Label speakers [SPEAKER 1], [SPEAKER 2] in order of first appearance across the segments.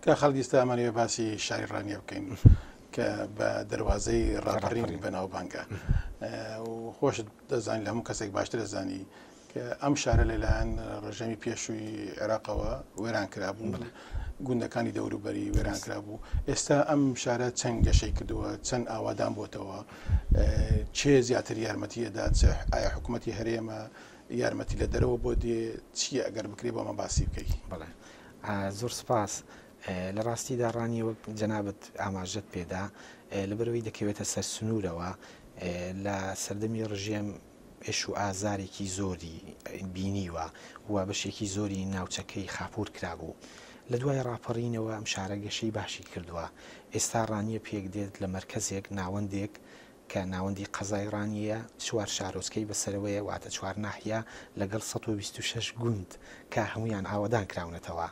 [SPEAKER 1] کاک خالید ئیستا ئەمانەوێ باسی شاری ڕانیە بکەین کە بە دەواازەی ڕاپەڕین بەناوبانگە خۆشت دەزانین هەموو کەسێک باشتر دەزانی کە ئەم شارە لەلایەن ڕژەمی پێشووی عێراقەوە وێران کرابوو گوندەکانی دەوروبەری وێران کرابوو ئێستا ئەم شارە چەند گەشەی کردووە چەند ئاوادان بۆتەوە چێ زیاتر یارمەتی ئەدات ئایا حکوومەتتی هەرێمە یارمەتی لە دەرەوە بۆ دێ چی ئەگەر بکرێ بۆمە باسی بکەیت بڵێ
[SPEAKER 2] زۆر سوپاس. لە ڕاستیدا ڕانیە وەک جەنابت ئاماژەت پێدا لەبەرئەوەی دەکەوێتە سەر سنوورەوە لە سەردەمی ڕژێم ئێش و ئازارێکی زۆری بینیوە و بەشێکی زۆری ناوچەکەی خاپوور کرابوو لە دوای ڕاپەڕینەوە ئەم شارە گەشەی باشی کردووە ئێستا ڕانیە پێکدێت لە مەرکەزێک ناوەندێک کە ناوەندی قەزای ڕانیەیە، چوار شارۆچکەی بەسەرەوەیە واتە چوار ناحیە لەگەڵ سەد و بیست و شەش گوند کە هەموویان ئاوەدان کراونەتەوە.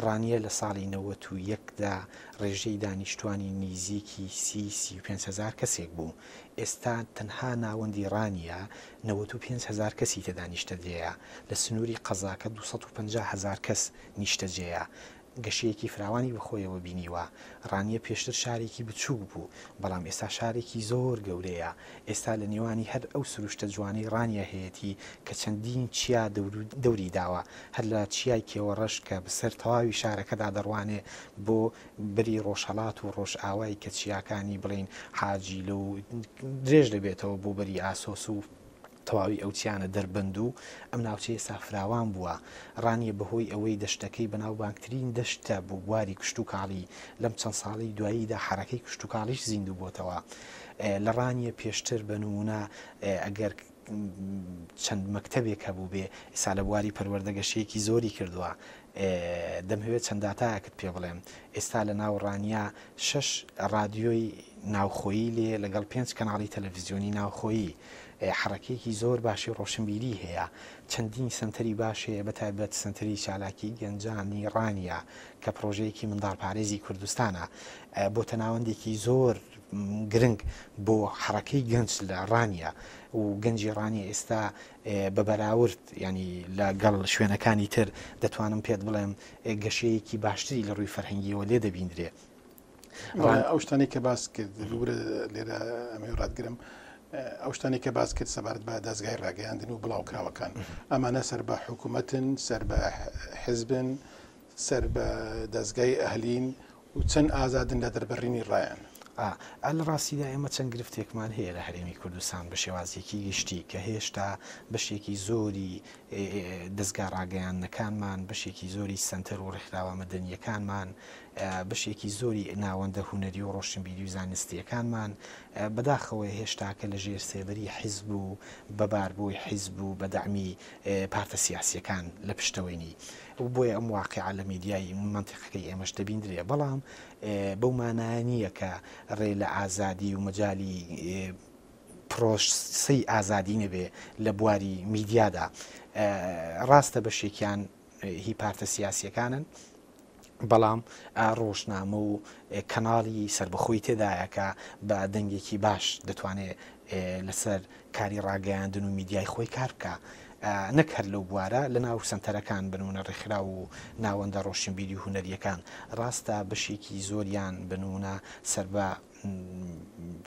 [SPEAKER 2] ڕانیە لە ساڵی نەوەت و یەک دا ڕێژەی دانیشتوانی نیزیکی سی، سی و پێنج هەزار کەسێک بوو، ئێستا تەنها ناوەندی ڕانیە نەوەت و پێنج هەزار کەسی تێدا نیشتەجێیە، لە سنووری قەزاکە دوو سەد و پەنجا هەزار کەس نیشتەجێیە. گەشەیەکی فراوانی بەخۆیەوە بینیوە، ڕانیە پێشتر شارێکی بچووک بوو، بەڵام ئێستا شارێکی زۆر گەورەیە، ئێستا لە نێوانی هەر ئەو سروشتە جوانەی ڕانیە هەیەتی کە چەندین چیا دەوری داوە، هەر لە چیای کێوەڕەش کە بەسەر تەواوی شارەکەدا دەڕوانێ بۆ بەری ڕۆژهەڵات و ڕۆژئاوای کە چیاکانی بڵێین حاجیلە و درێژ دەبێتەوە بۆ بەری ئاسۆس و تەواوی ئەو چیانە دەربەند و ئەم ناوچەیە سافراوان بووە، ڕانیە بەهۆی ئەوەی دەشتەکەی بەناوبانگترین دەشتە بۆ بواری کشتوکاڵی، لەم چەند ساڵەی دواییدا حەرەکەی کشتوکاڵیش زیندوو بۆتەوە لە ڕانیە، پێشتر بە نموونە ئەگەر چەند مەکتەبێک هەبووبێ، ئیستا لە بواری پەروەردە گەشەیەکی زۆری کردووە، دەمهەوێت چەند داتایەکت پێ بڵێم، ئێستا لە ناو ڕانیە شەش ڕادیۆی ناوخۆیی لێ لەگەڵ پێنج کەناڵی تەلەفزیۆنی ناوخۆیی. حەڕەکەیەکی زۆر باشی ڕۆشنبیری هەیە. چەندین سەنتەری باش هەیە بە تایبەت سەنتەری چالاکی گەنجانی ڕانیە کە پڕۆژەیەکی منداڵپارێزی کوردستانە. بۆتە ناوەندێکی زۆر گرنگ بۆ حەڕەکەی گەنج لە ڕانیە و گەنجی ڕانیە ئێستا بە بەراورد یانی لە گەڵ شوێنەکانی تر دەتوانم پێت بڵێم گەشەیەکی باشتری لە ڕووی فەرهەنگیەوە لێ دەبیندرێ. بەڵێ
[SPEAKER 1] ئەو شتانەی کە باست کرد ببورە لێرە ئەمەوێ ڕاتگرم ئەو شتانەی کە باست کرد سەبارەت بە دەزگای ڕاگەیاندن و بڵاوکراوەکان ئەمانە سەر بە حکوومەتن سەر بە حزبن سەر بە دەزگای ئەهلین و چەند ئازادن لە دەربڕینی ڕایان؟ ئا لە
[SPEAKER 2] ڕاستیدا ئێمە چەند گرفتێکمان هەیە لە هەرێمی کوردستان بە شێوازێکی گشتی کە هێشتا بەشێکی زۆری دەزگا ڕاگەیاندنەکانمان، بەشێکی زۆری سەنتەر و ڕێکخراوە مەدەنییەکانمان، بەشێکی زۆری ناوەندە هونەری و ڕۆشنبیری و زانستییەکانمان بەداخەوە هێشتاکە لە ژێر سێبەری حیزب و بە باربۆی حیزب و بە دەعمی پارتە سیاسییەکان لە پشتەوەینی و بۆیە ئەم واقیعە لە میدیای مەنتیقەکەی ئێمەش دەبیندرێ بەڵام بەو مانایە نییە کە ڕێ لە ئازادی و مەجالی پرۆسەی ئازادی نەبێ لە بواری میدیادا ڕاستە بەشێکیان هی پارتە سیاسیەکانن بەڵام ڕۆژنامە و کەناڵی سربەخۆی تێدایە کە بە دەنگێکی باش دەتوانێت لەسەر کاری ڕاگەیاندن و میدیای خۆی کار بکا نەک هەر لەو بوارە لە ناو سەنتەرەکان بن و نەڕێکخراو و ناوەندە ڕۆشنبیری و هونەرییەکان ڕاستە بەشێکی زۆریان بن و نە سەر بە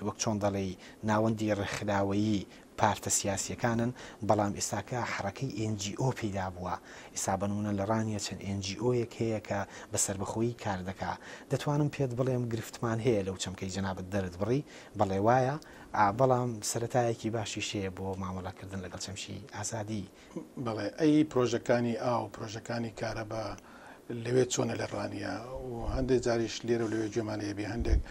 [SPEAKER 2] وەک چۆن دەڵێی ناوەندی ڕێکخراوەیی پارتە سیاسییەکانن بەڵام ئێستاکە حەڕەکەی ئێن جی ئۆ پەیدا بووە ئیسا بەنمونە لە ڕانیە چەند ئێن جی ئۆیەک هەیە کە بە سەربەخۆیی کار دەکا دەتوانم پێت بڵێم گرفتمان هەیە لەو چەمکەی جەنابت دەرت بڕی بەڵێ وایە بەڵام سەرەتایەکی باشیش هەیە بۆ مامەڵەکردن لەگەڵ چەمکی ئازادی. بەڵێ ئەی
[SPEAKER 1] پرۆژەکانی ئاو پرۆژەکانی کارەبا لەوێ چۆنە لە ڕانیە و هەندێک جاریش لێرە و لەوێ گوێمان لێبێ هەندێک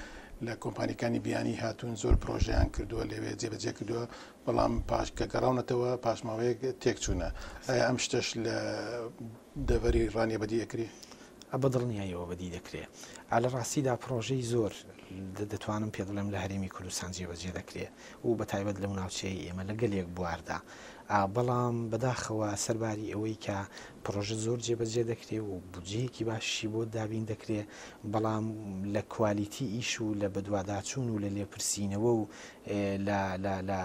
[SPEAKER 1] لە کۆمپانیکانی بیانی هاتوون زۆر پرۆژەیان کردووە لەوێ جێبەجێ کردووە بەڵام پاش کە گەڕاونەتەوە پاشماوەیەک تێکچوونە ئایا ئەم شتەش لە دەڤەری ڕانیە بەدی ئەکری؟ ە بە دڵنیایەوە
[SPEAKER 2] بەدی دەکرێ ئا لە ڕاستیدا پڕۆژەی زۆر دە دەتوانم پێ بڵێم لە هەرێمی کوردستان جێ بەجێ دەکرێ و بە تایبەت لەو ناوچەیەی ئێمە لە گەلێک بواردا ئا بەڵام بە داخەوە سەر باری ئەوەی کە پڕۆژە زۆر جێ بەجێ دەکرێ و بودجەیەکی باشیشی بۆ دابین دەکرێ بەڵام لە کوالیتی ئیش و لە بەدواداچوون و لە لێپرسینەوە و لە لە لە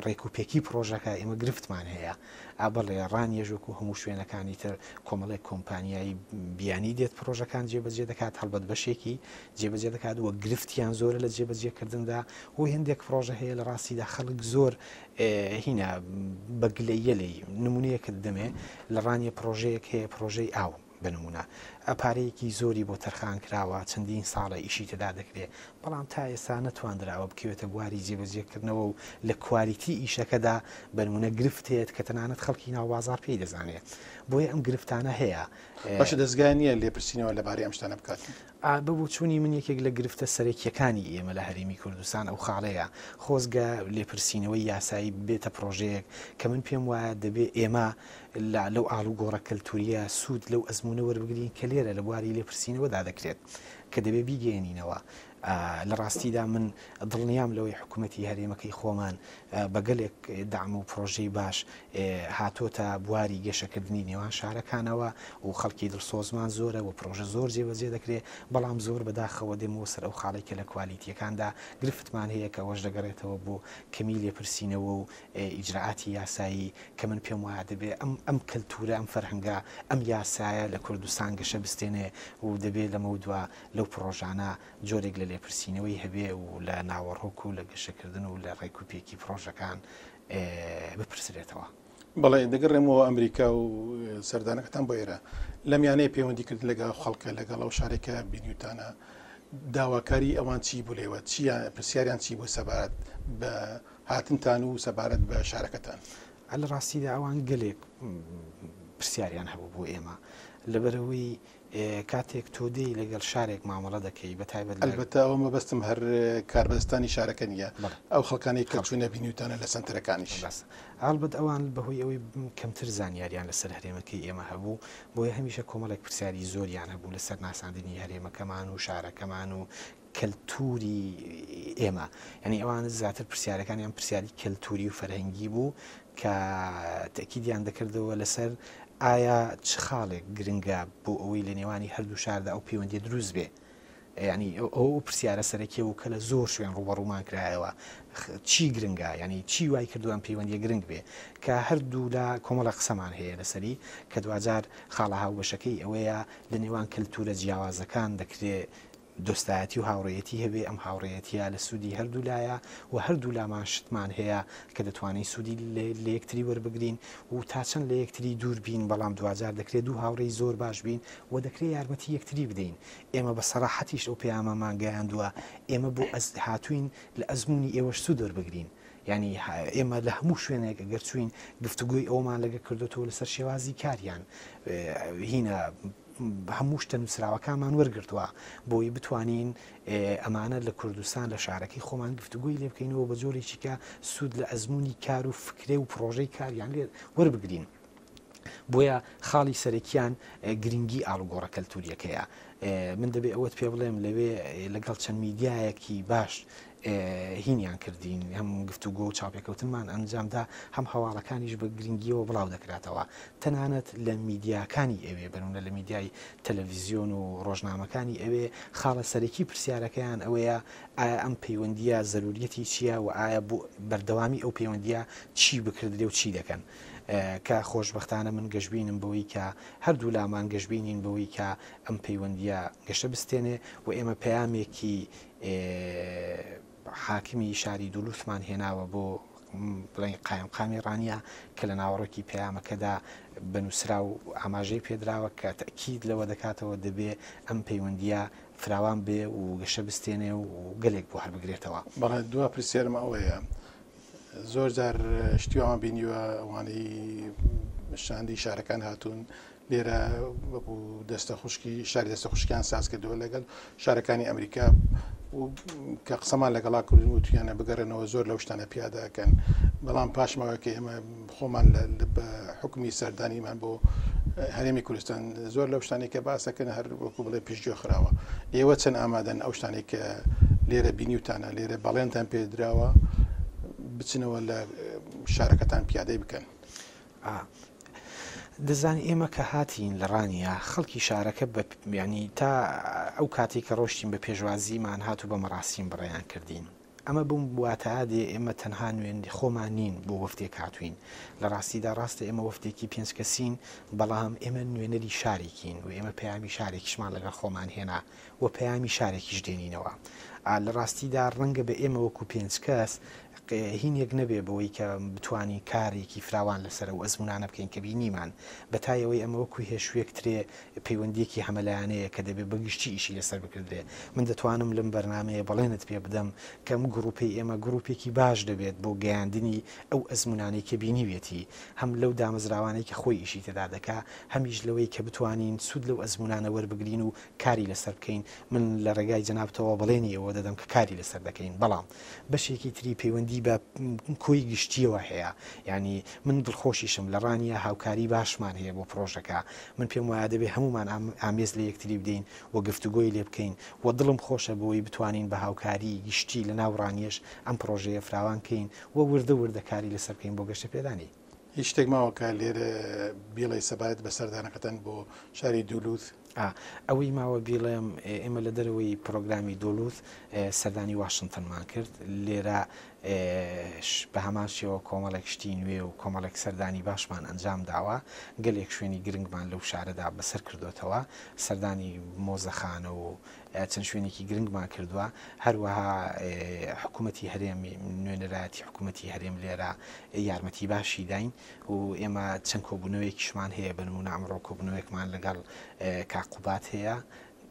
[SPEAKER 2] ڕێکوپێکی پڕۆژەکە ئێمە گرفتمان هەیە. ئا بەڵێ، ڕانیەش وەکو هەموو شوێنەکانی تر کۆمەڵێک کۆمپانیای بیانی دێت پڕۆژەکان جێبەجێ دەکات، هەڵبەت بەشێکی جێبەجێ دەکات و گرفتیان زۆرە لە جێبەجێکردندا و هێندێک پڕۆژە هەیە لە ڕاستیدا خەڵک زۆر هینا بە گلەییە لێی، نموونەیەکت دەمێ لە ڕانیە پڕۆژەیەک هەیە پڕۆژەی ئاو، بە نموونە پارەیەکی زۆری بۆ تەرخان کراوە، چەندین ساڵە ئیشی تێدا دەکرێت، بەڵام تا ئێستا نەتواندراوە بکەوێتە بواری جێبەجێکردنەوە و لە کوالیتی ئیشەکەدا بە نموونە گرفت هەیەت کە تەنانەت خەڵکی ناو بازاڕ پێی دەزانێت، بۆیە ئەم گرفتانە هەیە. باشە دەزگا
[SPEAKER 1] نییە لێپرسینەوە لەبارەی ئەم شتانە بکات؟ بە بۆچوونی
[SPEAKER 2] من یەکێک لە گرفتە سەرەکییەکانی ئێمە لە هەرێمی کوردستان ئەو خاڵەیە، خۆزگە لێپرسینەوەی یاسایی ببێتە پڕۆژەیەک کە من پێم وایە دەبێت ئێمە لە لەو ئاڵوگۆڕە کەلتورییە سوود لەو ئەزموونە وەربگرین کە لێرە لە بواری لێپرسینەوەدا دەکرێت کە دەبێت بیگەیەنینەوە. لە ڕاستیدا من دڵنیام لەوەی حکومەتی هەرێمەکەی خۆمان بە گەلێک دەعم و پڕۆژەی باش هاتۆتە بواری گەشەکردنی نێوان شارەکانەوە و خەڵکی دڵسۆزمان زۆرە و پڕۆژە زۆر جێبەجێ دەکرێت، بەڵام زۆر بە داخەوە دێمەوە سەر ئەو خاڵەی کە لە کوالیتییەکاندا گرفتمان هەیە کە ئەوەش دەگەڕێتەوە بۆ کەمی لێپرسینەوە و ئیجرائاتی یاسایی کە من پێم وایە دەبێ ئەم ئەم کەلتوورە، ئەم فەرهەنگە، ئەم یاسایە لە کوردستان گەشە بستێنێ و دەبێ لەمەودوا لەو پڕۆژانە جۆرێک لە لێپرسینەوەی هەبێ و لە ناوەڕۆک و لە گەشەکردن و لە ڕێک و پێکی پڕۆژەکان بپرسرێتەوە. بەڵێ،
[SPEAKER 1] دەگەڕێمەوە ئەمریکا و سەردانەکەتان بۆ ئێرە. لەم یانەی پەیوەندیکردن لەگەڵ ئەو خەڵکە، لەگەڵ ئەو شارەی کە بینیوتانە، داواکاریی ئەوان چی بوو لێوە؟ چییان پرسیاریان چی بوو سەبارەت بە هاتنتان و سەبارەت بە شارەکەتان. لە ڕاستیدا
[SPEAKER 2] ئەوان گەلێک پرسیاریان هەبوو بۆ ئێمە لەبەرەوەی کاتێک تۆ دێی لەگەڵ شارێک مامەڵە دەکەی بە تایبەت البەتە ئەوە مەبەستم
[SPEAKER 1] هەر کاربەستانی شارەکە نیە ئەو خەڵکانی کەچوو نەبینیوتانە لە سنتەرەکانیش بەس هەڵبەت
[SPEAKER 2] ئەوان بەهۆی ئەوەی کەمتر زانیاریان لەسەر هەرێمەکەی ئێمە هەبوو بۆیە هەمیشە کۆمەڵێک پرسیاری زۆریان هەبوو لەسەر ناساندنی هەرێمەکەمان و شارەکەمان و کەلتووری ئێمە یانی ئەوان زیاتر پرسیارەکانیان پرسیاری کەلتووری و فەرهەنگی بوو کە تەکیدیان دەکردەوە لەسەر ئایا چ خاڵێک گرنگە بۆ ئەوەی لە نێوانی هەردوو شاردا ئەو پەیوەندی دروست بێ ینی ئەو پرسیارە سەرەکیە و کە لە زۆر شوێن ڕوبەڕوومان کرایەوە چی گرنگە ینی چی وای کردوان پەیوەندی گرنگ بێ کە هەردوو لە کۆمەڵە قسەمان هەیە لەسەری کە دوجار خاڵە هاوبەشەکەی ئەوەیە لە نێوان کەلتورە جیاوازەکان دەکرێت دۆستایەتی و هاوڕێیەتی هەبێ، ئەم هاوڕێیەتییە لە سوودی هەردوو لایە و هەردوو لامان شتمان هەیە کە دەتوانین سوودی لە یەکتری وەربگرین و تا چەند لە یەکتری دوور بین، بەڵام دواجار دەکرێ دوو هاوڕێی زۆر باش بین و دەکرێ یارمەتی یەکتری بدەین. ئێمە بە سەراحەتیش ئەو پەیامەمان گەیاندووە، ئێمە بۆ ئەزد هاتووین لە ئەزموونی ئێوەش سوود وەربگرین. یانی ئێمە لە هەموو شوێنێک ئەگەر چووین گفتوگۆی ئەوەمان لەگەڵ کردۆتەوە لەسەر شێوازی کاریان هینا، هەموو شتە نووسراوەکانمان وەرگرتووە بۆی بتوانین ئەمانە لە کوردستان لە شارەکەی خۆمان گفتوگۆی لێ بکەینەوە بە جۆرێکی کە سوود لە ئەزمموی کار و فکرێ و پرۆژەی کاریان لێ وەربگرین. بۆیە خاڵی سەرەکیان گرنگی ئاڵوگۆڕە کەلتوریەکەیە من دەبێ ئەوەت پێ بڵێم لەوێ لەگەڵ چەند میدیایەکی باش هینیان کردین، هەم گفتوگۆ و چاوپێکەوتنمان ئەنجام دا، هەم هەواڵەکانیش بە گرنگییەوە بڵاو دەکراتەوە، تەنانەت لە میدیاکانی ئەوێ، بەنموونە لە میدیای تەلەڤیزیۆن و ڕۆژنامەکانی ئەوێ، خاڵە سەرەکی پرسیارەکەیان ئەوەیە، ئایا ئەم پەیوەندییە زەروورییەتی چییە و ئایا بۆ بەردەوامی ئەو پەیوەندییە چی بکردرێ و چی دەکەن؟ کە خۆشبەختانە من گەشبینم بەوەی کە هەردوولامان گەشبینین بەوەی کە ئەم پەیوەندییە گەشە بستێنێ و ئێمە پەیامێکی حاکمی شاری دولوسمان هێناوە بۆ بڵێین قایمقامی ڕانیە کە لە ناوەڕۆکی پەیامەکەدا بە نووسراو ئاماژەی پێدراوە کە تەکیید لەوە دەکاتەوە دەبێ ئەم پەیوەندیە فراوان بێ و گەشە بستێنێ و گەلێک بۆ هەڵبگرێتەوە بەڵێ دوا پرسیارم
[SPEAKER 1] ئەوەیە زۆر جار شتیوان بینیوە ئەوانەی شاندی شارەکان هاتوون لێرە وەکو دەستە خوشکی شاری دەستە خوشکیان ساز کردەوە لەگەل شارەکانی ئەمریکا و کە قسەمان لەگەڵا کردن و تویانە بگەڕێنەوە زۆر لەو شتانە پیادەکەن بەڵام پاشمەوە کە ئێمە خۆمان لە بە حکومی سەردانیمان بۆ هەرێمی کوردستان زۆر لەو شتانی کە باسەکەن هەر وەکو بڵێ پیشگوێ خراوە ئێوە چەند ئامادەن ئەو شتانی کە لێرە بینیوتانە لێرە بەڵێنتان پێدراوە بچنەوە لە شارەکەتان پیادەی بکەن. ئا
[SPEAKER 2] دەزانی ئێمە کە هاتین لە ڕانیە خەڵکی شارەکە بە یانی تا ئەو کاتەی کە ڕۆشتین بە پێشوازیمان هات و بە مەڕاسیم بڕێیان کردین ئەمە بم واتاا دێ ئێمە تەنها نوێندی خۆمان نین بۆ وەفدێک هاتووین لە ڕاستیدا ڕاستە ئێمە وەفدێکی پێنج کەسین بەڵام ئێمە نوێنەری شارێکین و ئێمە پەیامی شارێکیشمان لەگەڵ خۆمان هێنا. و پەیامی شارێکیش دێنینەوە. ئا لە ڕاستیدا ڕەنگە بە ئێمە وەکوو پێنج کەس قە هینێک نەبێ بەوەی کە بتوانین کارێکی فراوان لەسەر ئەو ئەزموونانە بکەین کە بینیمان. بە تایەوەی ئەمە وەکوو هێشووێک ترێ پەیوەندییەکی هەمەلایەنەیە کە دەبێ بە گشتی ئیشی لەسەر بکردرێ. من دەتوانم لەم بەرنامەیە بەڵێنت پێ بدەم کە ئەم گڕووپەی ئێمە گڕووپێکی باش دەبێت بۆ گەیاندنی ئەو ئەزموونانەی کە بینیویەتی هەم لەو دامەزراوانەی کە خۆی ئیشی تێدا دەکا هەمیش لەوەی کە بتوانین سوود لەو ئەزموونانە وەربگرین و کاری لەسەر بکەین، من لە ڕێگای جەنابتەوە بەڵێنی ئەوە دەدەم کە کاری لەسەر دەکەین، بەڵام بەشێکی تری پەیوەندی بە کۆی گشتییەوە هەیە، یانی من دڵخۆشیشم لە ڕانیە هاوکاری باشمان هەیە بۆ پڕۆژەکە، من پێم وایە دەبێ هەموومان ئامێز لە یەکتری بدەین و گفتوگۆی لێ بکەین و دڵم خۆشە بەوەی بتوانین بە هاوکاری گشتی لە ناو ڕانیەش ئەم پڕۆژەیە فراوان کەین و وردە وردە کاری لەسەر بکەین بۆ گەشەپێدانی. هیچ شتێک ماوە
[SPEAKER 1] کە لێرە بیڵێی سەبارەت بە سەردانەکەتان بۆ شاری دولوز؟ ئا، ئەوەی ماوە
[SPEAKER 2] بیڵێم ئێمە لە دەرەوەی پرۆگرامی دولوز سەردانی واشنتنمان کرد، لێرە ش بە هەمان شێوە کۆمەڵێک شتی نوێ و کۆمەڵێک سەردانی باشمان ئەنجام داوە، گەلێک شوێنی گرنگمان لەو شارەدا بەسەر کردۆتەوە، سەردانی مۆزەخانە و چەند شوێنێکی گرنگمان کردووە، هەروەها حکوومەتی هەرێم، نوێنەرایەتی حکوومەتی هەرێم لێرە یارمەتیی باشی داین و ئێمە چەند کۆبوونەوەیەکیشمان هەیە، بە نموونە ئەمڕۆ کۆبوونەوەیەکمان لەگەڵ کاک قوباد هەیە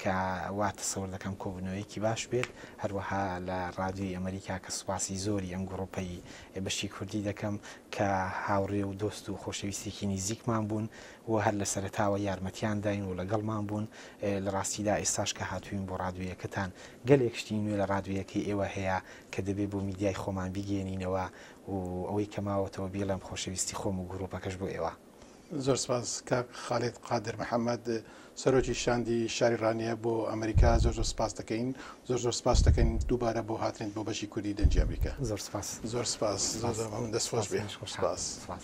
[SPEAKER 2] کە وا تەسەور دەکەم کۆبوونەوەیەکی باش بێت، هەروەها لە ڕادیۆی ئەمەریکا کە سوپاسی زۆری ئەم گڕووپەی بەشی کوردی دەکەم کە هاوڕێ و دۆست و خۆشەویستێکی نیزیکمان بوون، و هەر لە سەرەتاوە یارمەتیان داین و لەگەڵمان بوون، لە ڕاستیدا ئێستاش کە هاتووین بۆ ڕادوێیەکەتان گەلێک شتی نوێ لە ڕادوێیەکەی ئێوە هەیە کە دەبێ بۆ میدیای خۆمان بیگەیەنینەوە و ئەوەی کە ماوەتەوە بیڵێم خۆشەویستی خۆم و گرووپەکەش بۆ ئێوە. زۆر سپاس
[SPEAKER 1] کاک خالید قادر محەمەد سەرۆکی شاندی شاری ڕانیە بۆ ئەمریکا زۆر زۆر سپاست دەکەین زۆر زۆر سپاست دەکەین دووبارە بۆ هاتنت بۆ بەشی کوردی دەنگی ئەمریکا. زۆر سپاس. زۆر
[SPEAKER 2] سپاس
[SPEAKER 1] زۆر زۆر مەمنون دەست خۆش بێت سپاس. سپاس.